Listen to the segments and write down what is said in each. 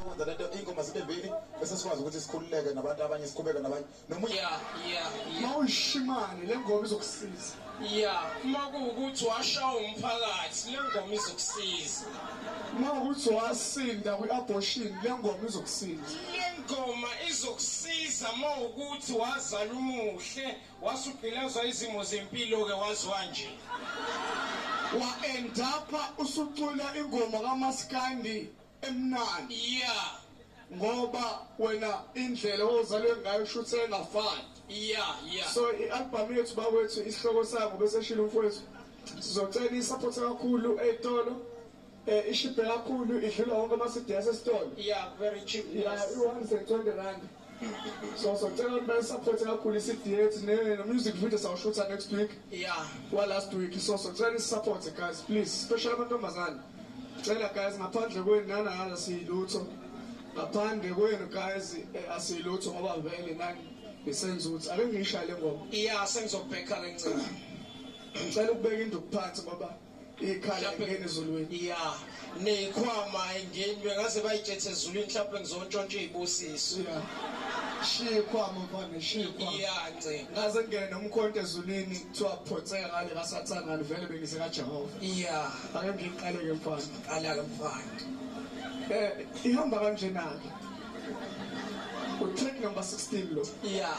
Ukwenza lento ingoma zibe mbili bese sikwazi ukuthi sikhululeke nabantu abanye sikhubeke nabanye noma yeah yeah yeah mawushimane lengoma izokusiza yeah uma kuwukuthi washawa umphakathi lengoma izokusiza uma ukuthi wasinda kwi-abortion lengoma izokusiza lengoma izokusiza uma ukuthi wazala umuhle wasugqilazwa izimo zempilo-ke waziwa nje wa-endapha usucula ingoma kamaskandi emnandi ya ngoba wena indlela ozalwe ngayo shuthi engafani ya ya so i-albhamu yethu bakwethu isihloko sango bese shilo umfowethu sizocela isaphothi kakhulu ey'tolo eh ishibhe kakhulu idlula wonke ama-cds esitolo ya very cheap ya i-120 rand so so cela ukuthi bayisupporte kakhulu isidiet ne-music video sawushutha next week yeah walast week so so cela nisupporte guys please special amantombazane cela guys ngaphandle kwenu nanana siyilutho ngaphandle kwenu guys eh, asiyilutho ngoba vele nani ngisenza ukuthi ake ngiyishaye le ngoma iya sengizokubhekha le ncela ngicela ukubeka induku phansi ngoba Ikhala ngene ezulwini. Yeah. Neyikhwama ayingeni bengaze bayitshethe ezulwini mhlawumbe ngizontshontsha izibusiso. Yeah. Shiya ikhwama mfana, shiya ikhwama. Yeah, nce. Ngaze ngene nomkhonto ezulwini kuthiwa photseka ngale kasathana vele bengise kaJehova. Yeah. Ake ngiqale ke mfana. Qala ke mfana. Eh ihamba kanjena ke. utrack number 16 lo yeah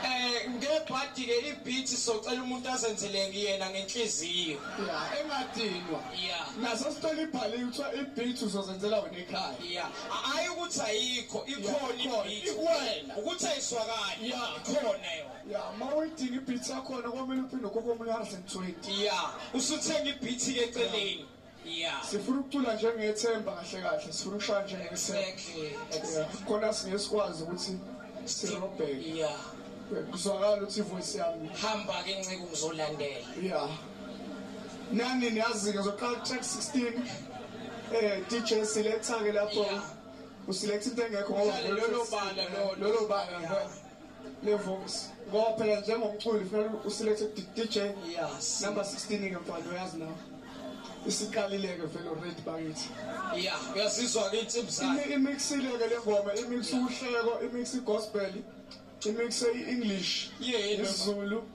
eh ngebhadi ke ibeat socela umuntu azenzele kuyena ngenhliziyo yeah engadinwa yeah naso sithola ibhali kuthiwa ibeat uzozenzela wena ekhaya yeah ayi ukuthi ayikho ikhona ibeat kuwena ukuthi ayiswakali yeah ikhona yona yeah mawidinga ibeat yakho na komele uphinde kokomunye 120 yeah usuthenga ibeat ke eceleni Yeah. Sifuna ukucula njengethemba kahle kahle, sifuna ukushaya njengethemba. Exactly. Exactly. Khona singesikwazi ukuthi sirobheke. Yeah. Kuzwakala ukuthi voice yami. Hamba ke nceku ngizolandela. Yeah. Nani niyazi ngizoqala track 16. Eh DJ siletha ke lapho. Usiletha into engekho ngoba lolo bala lolo bala. le voice ngoba phela njengomculi kufanele uselekte DJ yes number 16 ke mfana uyazi nawe isiqalileke vele already bakithi yeah uyazizwa ke insimbi zakhe imixileke le ngoma imix uhleko imix gospel imix english yeah isizulu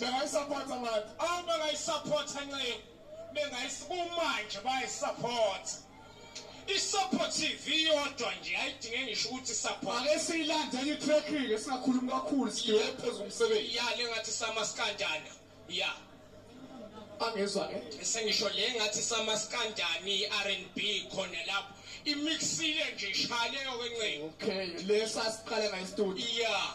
Bengayisapotha ngathi. Awu bengayisapotha nceku. Bengayisibumanje bayisapotha. I-support TV yodwa nje ayidinge ngisho ukuthi support. Ake siyilandele i-track ke singakhulumi kakhulu sidiwe phezulu umsebenzi. Ya le ngathi sama sikanjani. Ya. Angizwa ke. Sengisho le ngathi sama sikanjani i-R&B khona lapho. Imixile nje ishaleyo ke nceku. Okay, lesa siqale ngayi studio. Ya.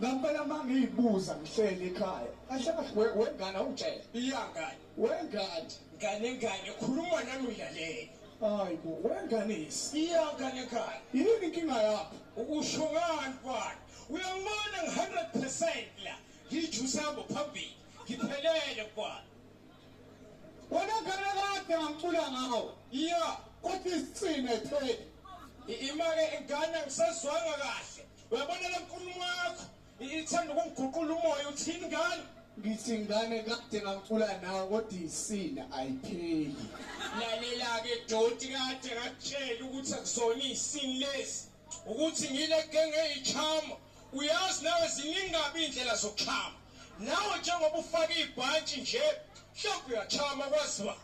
Ngampela uma ngiyibuza ngihleli ekhaya kahle kahle we- wengane awungitshele iyangane wengane ngane ngane khuluma nami ngilalele hayi bo wengane yisi iyangane ngane yini inkinga yakho ukusho ngani mfana uyangibona ngi-hundred percent la ngiyijuse hambo phambili ngiphelele mfana wena ngane kade ngangicula ngawo iya kodwa isicine pheli I- imake ingane angisezwanga kahle Uyabona le nkulumo yakho ithanda ukungiguqula umoya uthini ngani? Ngithi ngane kade ngacula nawe kodwa isina ayipheli. Lalela ke doti kade ngakutshela ukuthi akuzona isini lesi ukuthi ngile genge ichama uyazi nawe ziningabi indlela zokuchama nawe njengoba ufaka ibhantshi nje mhlawumbe uyachama kwaziwa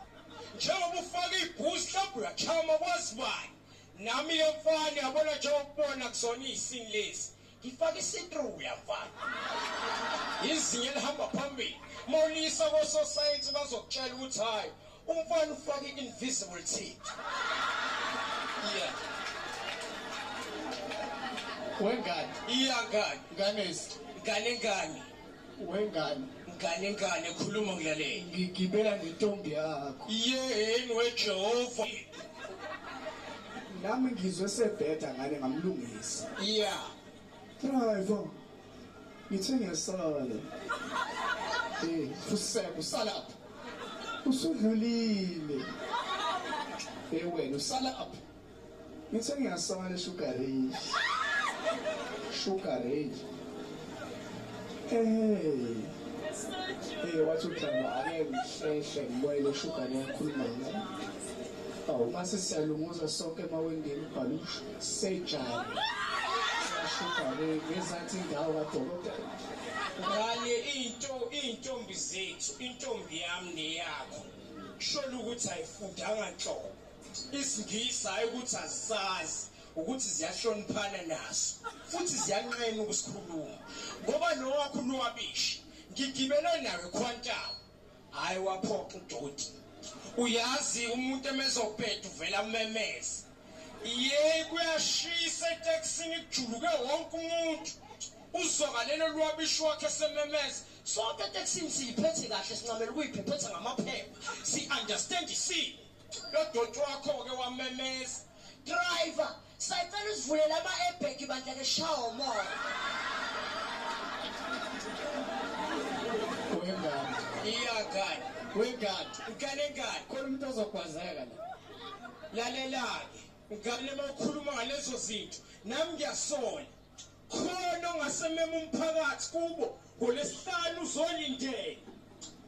njengoba ufaka ibhusi mhlawumbe uyachama kwaziwayo Nami yomfana yabona nje ukubona kuzona izini lezi. Ngifaka isitru uyamfana. Izinye lihamba phambili. Molisa kososayensi bazokutshela ukuthi hayi umfana ufaka i-invisible teeth. Yeah. Wengane. Iyangane. Nganesi. Ngane ngane. Wengane. Ngane ngane khuluma ngilalele. Ngigibela nentombi yakho. Yeheni weJehova. Nami ngizwe sebheda ngane ngamlungisa. Yeah. Driver. Ngithe ngiyasala. Eh, fuseka usalapha. Usudlulile. Eh wena usalapha. Ngithe ngiyasaba le sugar ray. Sugar ray. Hey. Hey wathi uhlamba ake ngihlehle ngibuyele le sugar yakhuluma ngayo. Awu mase siyalunguza sonke emawendeni ubhalusha sejala. Sugar ray ngezathi indawo kadokotela. Ngane into intombi zethu intombi yami neyakho. Sholo ukuthi ayifundanga nhlobo. isingisi hhayi ukuthi azisazi ukuthi ziyahloniphana naso futhi ziyanqena ukusikhuluma ngoba nowakho unwabishi ngigibele nawe khwantawo hhayi waphoxa udoti uyazi umuntu emezobheda uvela umemeze yeyi kuyashisa etekisini kujuluke wonke umuntu uzwakalelo lwabishi wakhe sememeze sonke etekisini siyiphethe kahle sincamela ukuyiphetha ngamaphepha si-understand isimo lodoti wakho-ke wamemeza driver sacela usivulela ama-ebheki bandla ke shawa umoya wengane iyagane wengane ukale ngane khona umuntu ozogwazeka la lalela-ke ngane uma ukhuluma ngalezo zinto nami ngiyasola Khona ongasemema umphakathi kubo ngolesihlanu uzolindela.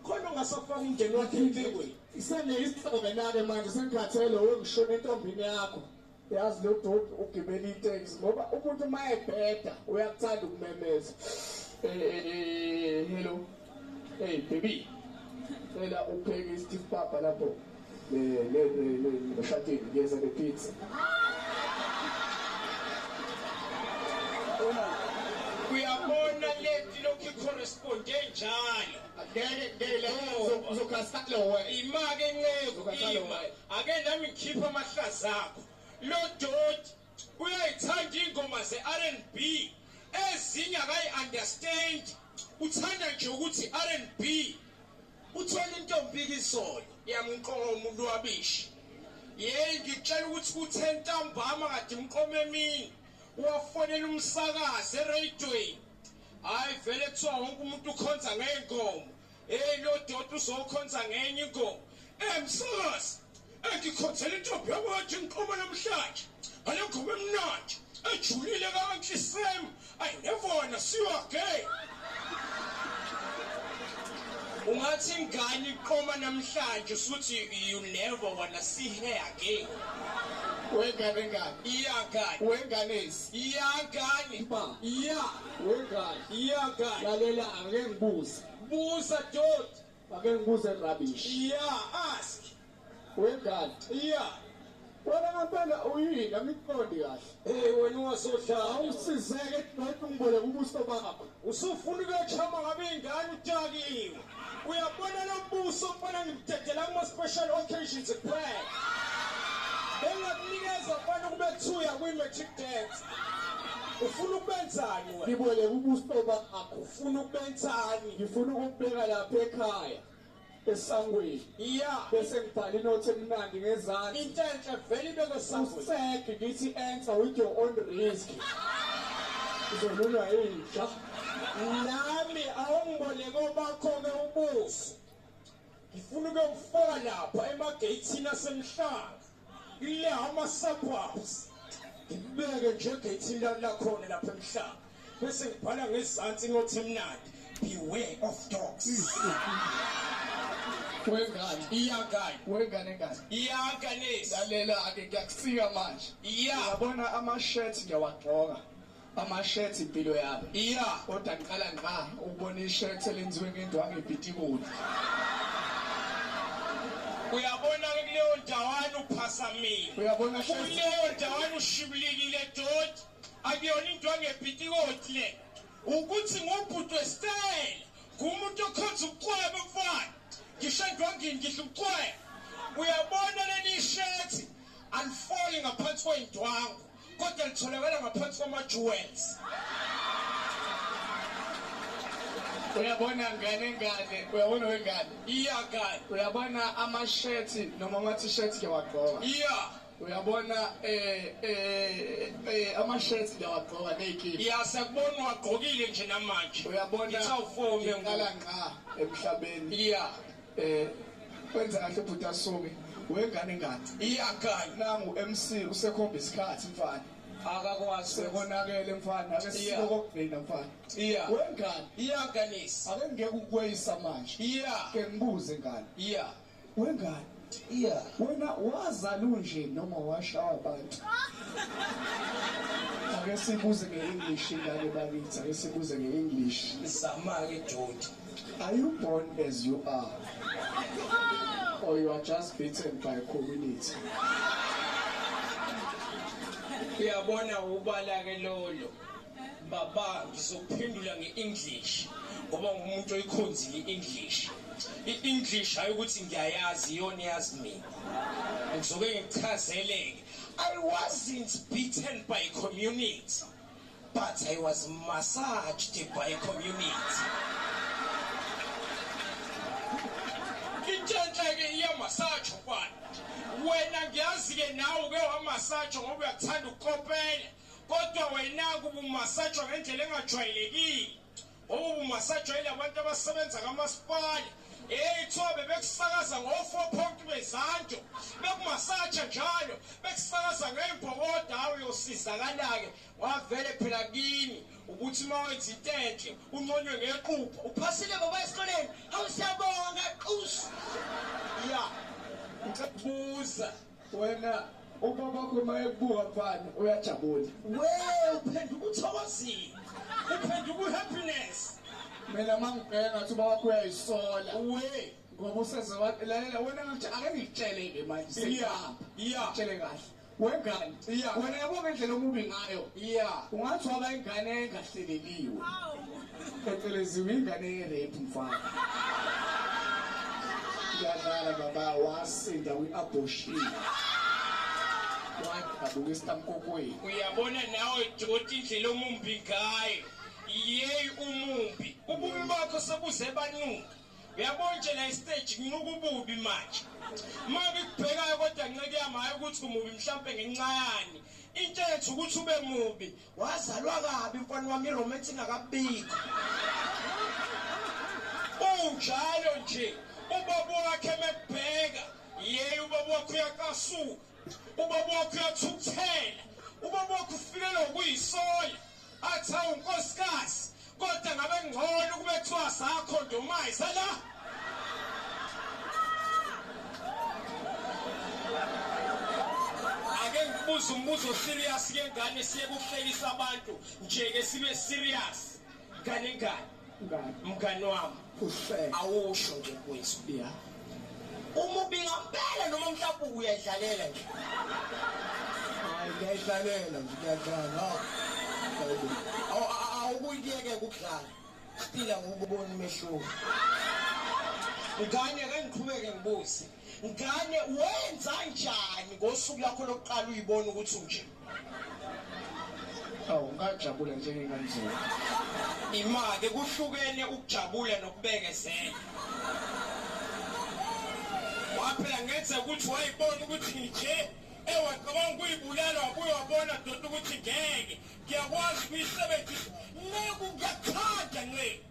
Khona ongasafaka umndeni wakhe empilweni. Isene isithobe nake manje sengikhathele wengishona entombini yakho. Yazi lo dot ugibela iteksi ngoba umuntu uma ebheda uyakuthanda ukumemeza. Eh, eh, eh, eh hello. Hey baby. Cela upheke isipapa lapho. Le le le le shatini ngiyeza ne pizza. Ona uyabona leti lokhu corresponde njalo. Ngeke ngeke le uzokhasa oh. lowe. Imake nceku ima. Ake nami ngikhipha amahlaza akho. Lo doti uyayithanda ingoma ze-rnb ezinye akayi-understand uthanda nje ukuthi i-rnb uthole intombika izolo yamqoma ulwabishi yeyi ngikutshela ukuthi kuthe ntambama kade umqoma emini wafonela umsakazi ereyidweni hhayi vele kuthiwa wonke umuntu ukhonza ngey'nkomo Hey lodoti uzokhonza ngenye inkomo. Emsakazi engikhonzela intombi yakwethu inkomo namhlanje. Ngale nkomo emnandi ejulile kanhle isem. Ayi nevona siwa gay. Ungathi ingane iqoma namhlanje usuthi you never wanna see her again. Wengane ngane. Iyangane. Wenganesi. Iyangane. Ba. Iya. Wengane. Iyangane. Lalela ake ngibuze. Busa dot. Ake ngibuze rubbish. Yeah, ask. Wengane. Yeah. Wena ngempela uyini angiqondi kahle. Hey wena ungasohlala. Awusizeke kubantu ngibole kubuso bakho. Usufuna ukuyachama ngabe ingane utakiwe. Uyabona lo buso mfana ngimdedela kuma special occasions kuphela. Bengakunikeza mfana kube 2 yakwi magic dance. ufuna ukubenzani wena ngiboleka ubuso bakho ufuna ukubenzani ngifuna ukubheka lapha ekhaya esangweni iya bese ngibhala inothi emnandi ngezansi into enhle vele ibeke esangweni useke ngithi answer with your own risk uzolulwa inja nami awungiboleke obakho-ke ubuso ngifuna ukuyokufaka lapha emageyithini asemhlanga le ama-suburbs ngibeke njengethintana lakhona lapha emhlaba bese ngibhala ngezansi inothi emnandi beware of dogs wengane iyangane wengane ngane iyanganisa lalela-ke ngiyakusika manje yabona ama-shirt ngiyawagqoka Amashethi impilo yabo. Iya kodwa ngiqala ngqa ukubona ishethi elenziwe ngendwangu epitikoni. Uyabona ke kuleyo ndawana uphasamile. Uyabona shethi. Kuleyo ndawana ushibulikile doti. Akuyona indwangu epitikoti le. Ukuthi ngubhuti westyle. Ngumuntu okhonza ukucweba mfana. Ngisho endwangini ngidla ukucweba. Uyabona leli shirt alifoli ngaphansi kwendwangu. kodwa litholakala ngaphansi kwama-jewels uyabona ngane ngane uyabona wengane iya kani uyabona amashethi noma ama-t-shirt ke wagqoka iya uyabona eh eh, eh ama-shirt ngiyawagqoka ney'kipa ya sekubona uwagqokile nje namanje uyabona ngitha ufomi ngala ngqa emhlabeni iya Eh wenza kahle bhuti asumi wengane ngati. Iyakhala nangu MC usekhomba isikhathi mfana. akakwazi Sekonakele mfana ake Yeah. silo kokugcina mfana. iya Wengane iyaganisa ake ngeke ukweyisa manje. iya Ke ngibuze ngane. iya Wengane iya wena wazala unje noma washawa abantu. Ake sibuze nge-English ingane bakithi ake sibuze nge-English. zama-ke doti Are you born as you are? Or you are just beaten by community? Uyabona ubala ke lolo. Baba ngizokuphendula ngeEnglish ngoba ngumuntu oyikhonzile iEnglish. iEnglish hayi ukuthi ngiyayazi iyona yazi mina. Ngizoke ngichazeleke. I wasn't beaten by community. But I was massaged by a community. Intshenhle-ke iyamasaja ukwani wena ngiyazi-ke nawe uke wamasaja ngoba uyakuthanda ukukopela kodwa wena-ke ubumasajwa ngendlela engajwayelekile Owu masajwayele abantu abasebenza kamasipala eyithiwa bebekusakaza ngo-four point bezanto bekumasatsha njalo bekusakaza ngey'bhokoda awu yosizakala-ke wavele phela kini ukuthi uma wenza into enhle unconywe ngequpha uphasile baba esikoleni hawu siyabonga qusu ya ngicela ukubuza wena ubabakho uma ekubuka mfana uyajabula we uphenduka uthokozile uphenduka uhappiness mina uma ngibheka ngathi ubabakho uyayisola we ngoba useze lalela wena ngathi ake ngitshele-ke manje siyahamba iya tshele kahle wengane wena yabo ngendlela omubi ngayo iya ungathi waba ingane engahleleliwe Phecelezi ingane ye-rape mfana. Uyadlala baba wasinda kwi-abortion. Wadabuka isitamkokwini. Uyabona nawe doti indlela omumbi ngayo. Yeyi umumbi. Ububi bakho sebuze banuka. Uyabona nje la istage kunuka ububi manje. Uma ngikubhekayo kodwa nceke yami hayi ukuthi umubi mhlampe ngenxa yani. Into ethu ukuthi ube mubi. Wazalwa kabi mfana wami iromance ingakabikho. Unjalo nje ubaba wakhe mekubheka yeye ubaba wakhe uyaqasuka ubaba wakhe uyathukuthela ubaba wakhe ufikelwa kuyisola athi awu nkosikazi Kodwa ngabe ngcono kube kuthiwa sakho ndumayi sala. Ake ngibuze umbuzo serious ke ngane siye kuhlekisa abantu nje ke sibe serious. Ngane ngane. Mngane wami. Kuhle. Awusho nje mfowethu. Yeah. Umubi ngampela noma mhlawumbe uyadlalela nje. Hayi ngiyadlalela nje ngiyadlala. Awu awukuyeke ukudlala. Siphila ngokubona umehluko. Ngane ake ngiqhubeke ngibuze. Ngane wenza njani ngosuku lakho lokuqala uyibona ukuthi unje? awu ngajabula njengenganzima imake kuhlukene ukujabula nokubekezela waphela ngenze ukuthi wayibona ukuthi nje ewacabanga ukuyibulala wabuye wabona doti ukuthi ngeke ngiyakwazi ukuyisebenzisa neku kuyathanda nceku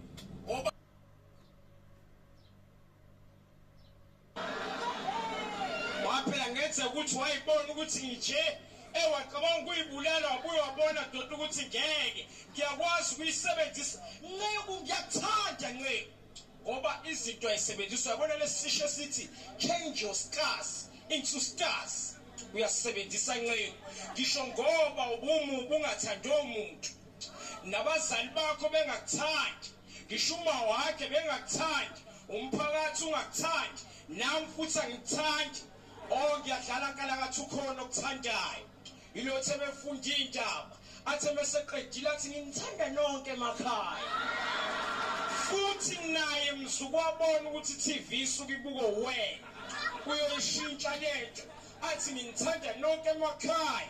Waphela ngenze ukuthi wayibona ukuthi ngithe ewacabanga ukuyibulala wabuye wabona doti ukuthi ngeke ngiyakwazi ukuyisebenzisa nceku ngiyakuthanda nceku ngoba izinto ayisebenzisa yabona lesisho esithi change your scars into stars uyasebenzisa nceku ngisho ngoba ubumu bungathandi omuntu nabazali bakho bengakuthandi ngisho uma wakhe bengakuthandi umphakathi ungakuthandi nami futhi angikuthandi o oh, ngiyadlala nkalakathi ukhona okuthandayo ilothe befunda iy'ndaba athe meseqedile athi nginithanda nonke emakhaya futhi naye mzukwabona ukuthi i-tv isuke ibuko wena uyoyishintsha lento athi nginithanda nonke emakhaya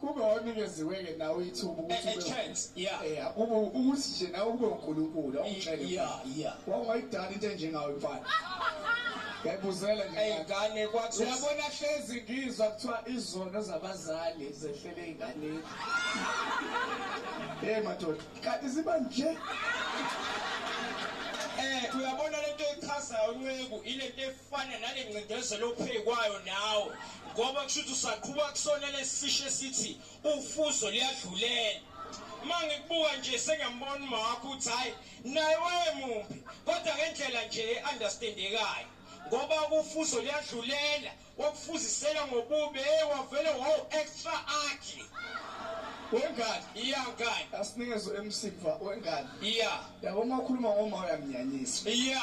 kube wanikeziwe ke nawe ithuba ukuthi a chance yeah yeah kube ukuthi nje nawe kube uNkulunkulu awungitshele yeah yeah wawungayidala into enjengawe mfana Ngiyabuzela nje. Eyingane kwathi uyabona hlezi ngizwa kuthiwa izono zabazali zehlele ingane. Hey madoda, kanti ziba nje. Eh uyabona lento echazayo unceku ilento fana nale ncindezelo opheyi kwayo nawe ngoba kusho ukuthi usaqhuba kusona lesisisho esithi ufuzo liyadlulela uma ngikubuka nje sengiyambona umakho ukuthi hhayi naye wayemumbi kodwa ngendlela nje e-understandekayo ngoba kufuzo liyadlulela wakufuzisela ngobubi hey wavele wow extra ugly wengane iya ngane asinikeze emsiva wengane iya yabo uma ukhuluma ngoma uyamnyanyisa iya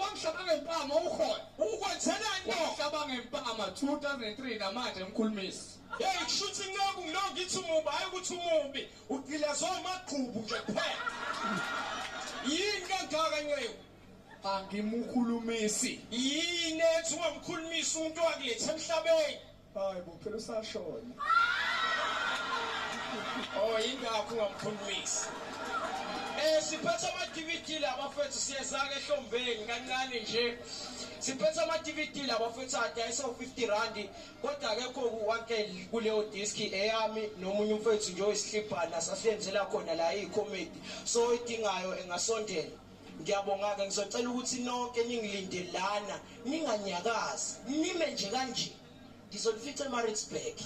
wamhlaba ngempama ukhona ukwenzelani wamhlaba ngempama 2003 namanje mkhulumisi yeyi kusho ukuthi ngiloku ngiloku ngithi umubi hhayi ukuthi umubi ugilazwa amagqubu nje kuphela yini kangaka nceku angimukhulumisi yini ethi ungamkhulumisi umuntu wakuletha emhlabeni Hayi bo phela usashona. Oh ingakho ungamkhulumisi. Eh siphethe ama DVD la bafethu siyeza ke ehlombeni kancane nje. Siphethe ama DVD la bafethu adayisa 50 rand kodwa akekho kuwake kuleyo disc eyami nomunye umfethu nje oyisihlibhana sasenzela khona la i comedy so idingayo engasondela. Ngiyabonga-ke ngizocela ukuthi nonke ningilinde lana ninganyakazi nime nje kanje ngizonifica emaritzburg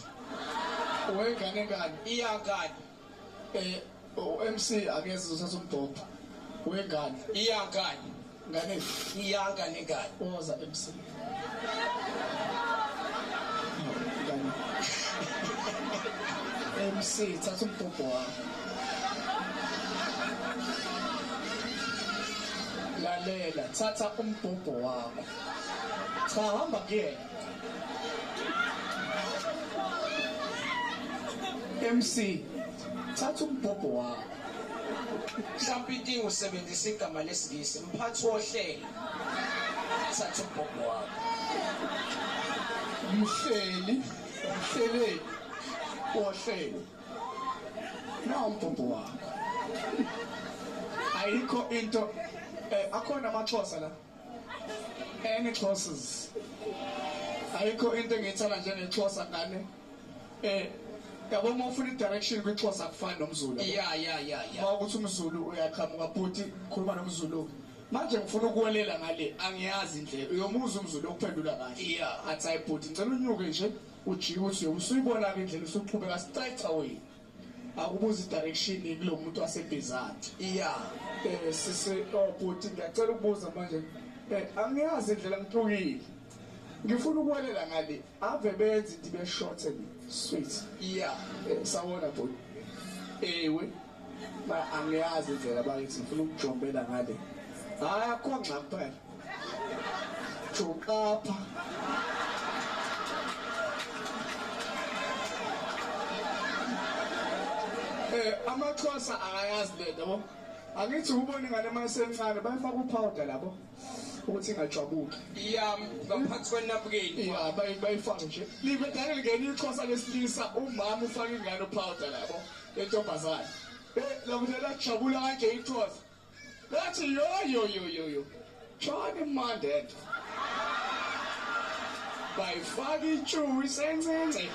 wengane ngani iyangani eh u-mc akeze uzothatha umbhobha wengane iyangani ngane iyangane ngani woza emsini MC, tá um pouco lá. lalela thatha umbhobho wakho cha hamba kuyena MC thatha umbhobho wakho mhlawumbe inkinga usebenzisa igama lesingisi mphathi wohlelo thatha umbhobho wakho mhleli mhleleli wohlelo nawumbhobho wakho ayikho into eh, akhona amaxhosa la any xhosas ayikho into engiyithanda njengexhosa ngane eh yabo uma ufuna i-direction kwixhosa akufani nomzulu ya ya ya ya uma ukuthi umzulu uyaqhamuka bhuti khuluma nomzulu Manje ngifuna ukuwelela ngale angiyazi indlela. Uyomuza umzulu okuphendula kahle. Yeah. Athi hayi bhuti ngicela unyuke nje ujike uthi usuyibona ke indlela usuqhubeka siceca wena. Akubuza direction kulo muntu wasebhizati. Yeah. Eh sisi oh bhuti ngiyacela ukubuza manje. Eh angiyazi indlela ngithukile. Ngifuna ukuwelela ngale Ave benzi ndibe short and sweet. Yeah, eh, sawona bhuti. Ewe. Ba angiyazi indlela bayithi ngifuna ukujombela ngale. Hayi akho ngxa kuphela. Jokapha. Eh amaxhosa akayazi lento bo. Angithi ubone ngane mayisencane bayifaka upowder labo. ukuthi ingajwabuki yam ngaphansi kwenapukeni ya bayifake nje ngeke ngene ixhosa lesilisa umama ufaka ingane upowder labo lentombazane eh lakuthi lajabula kanje ixhosa lathi yo yo yo yo yo John Mandela bayifaka itshuku isencinci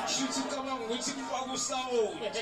shuthi ucabanga ukuthi kwakusawoti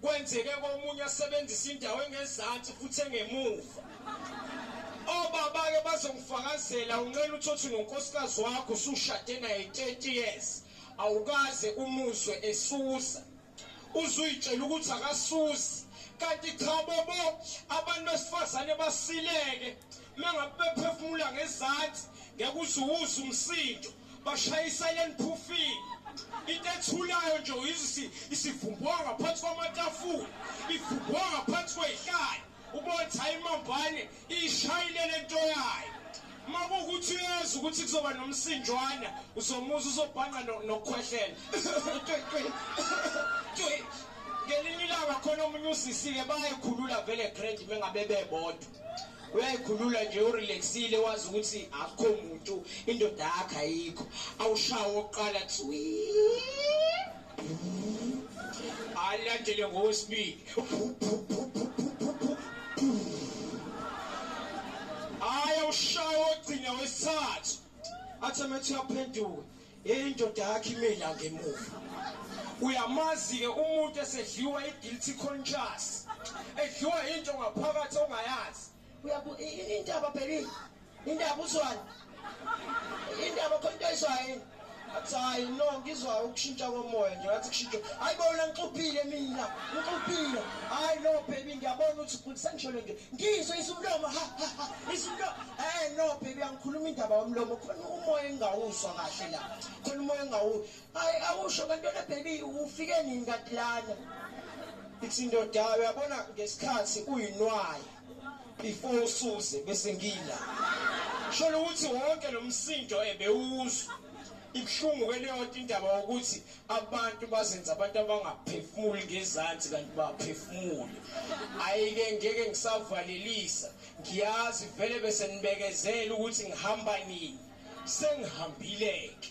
Kwenzeke komunye asebenzisa indawo engezansi futhi engemuva. Obaba-ke bazongifakazela unxele uthothi nonkosikazi wakho usushade naye 30 years awukaze umuzwe esusa uzuyitshela ukuthi akasusi kanti cha bobo abantu besifazane basileke mengabe bephefumula ngezansi ngeke uzuwuze umsindo bashayisana eniphufini into ethulayo nje uyizisi isivumbwa ngaphansi kwamatafula ivumbwa ngaphansi kweyihlala ubona ukuthi hayi imambane iyishayile le nto yayo uma kuwukuthi uyazi ukuthi kuzoba nomsinjwana uzomuza uzobhanqa nokukhwehlela ngelinye ilanga khona omunye usisi-ke bayayikhulula vele grand mengabe bebodwa uyayikhulula nje urelaxile wazi ukuthi akukho muntu indoda yakhe ayikho awushawa oqala thwi alandele ngowesibili aye ushaya ogcina wesithathu athi amethi uyaphenduka Indoda yakhe imela ngemuva. Uyamazi-ke umuntu esedliwa i-guilty conscious. Edliwa into ngaphakathi ongayazi. Uyabu intaba baby. Intaba uzwana. Intaba khona into ayizwayo. athi hayi no ngizwa ukushintsha komoya nje ngathi kushintsha hayi bona ngixuphile mina ngixuphile hayi no baby ngiyabona ukuthi sengisho le nto ngizwe isumlomo ha ha ha Ngisho into eh no baby angikhuluma indaba yomlomo khona umoya engawuzwa kahle la. Khona umoya engawu. Hayi awusho kantona baby ufike nini kanti lana? Ithi indoda uyabona ngesikhathi uyinwayi before usuze bese ngila. Sholo ukuthi wonke lo msindo ebewuzwa ibuhlungu kweleyonto indaba yokuthi abantu bazenza abantu abangaphefumuli ngezansi kanti baphefumule ayike ngeke ngisavalelisa Ngiyazi vele bese nibekezela ukuthi ngihamba nini. Sengihambile-ke.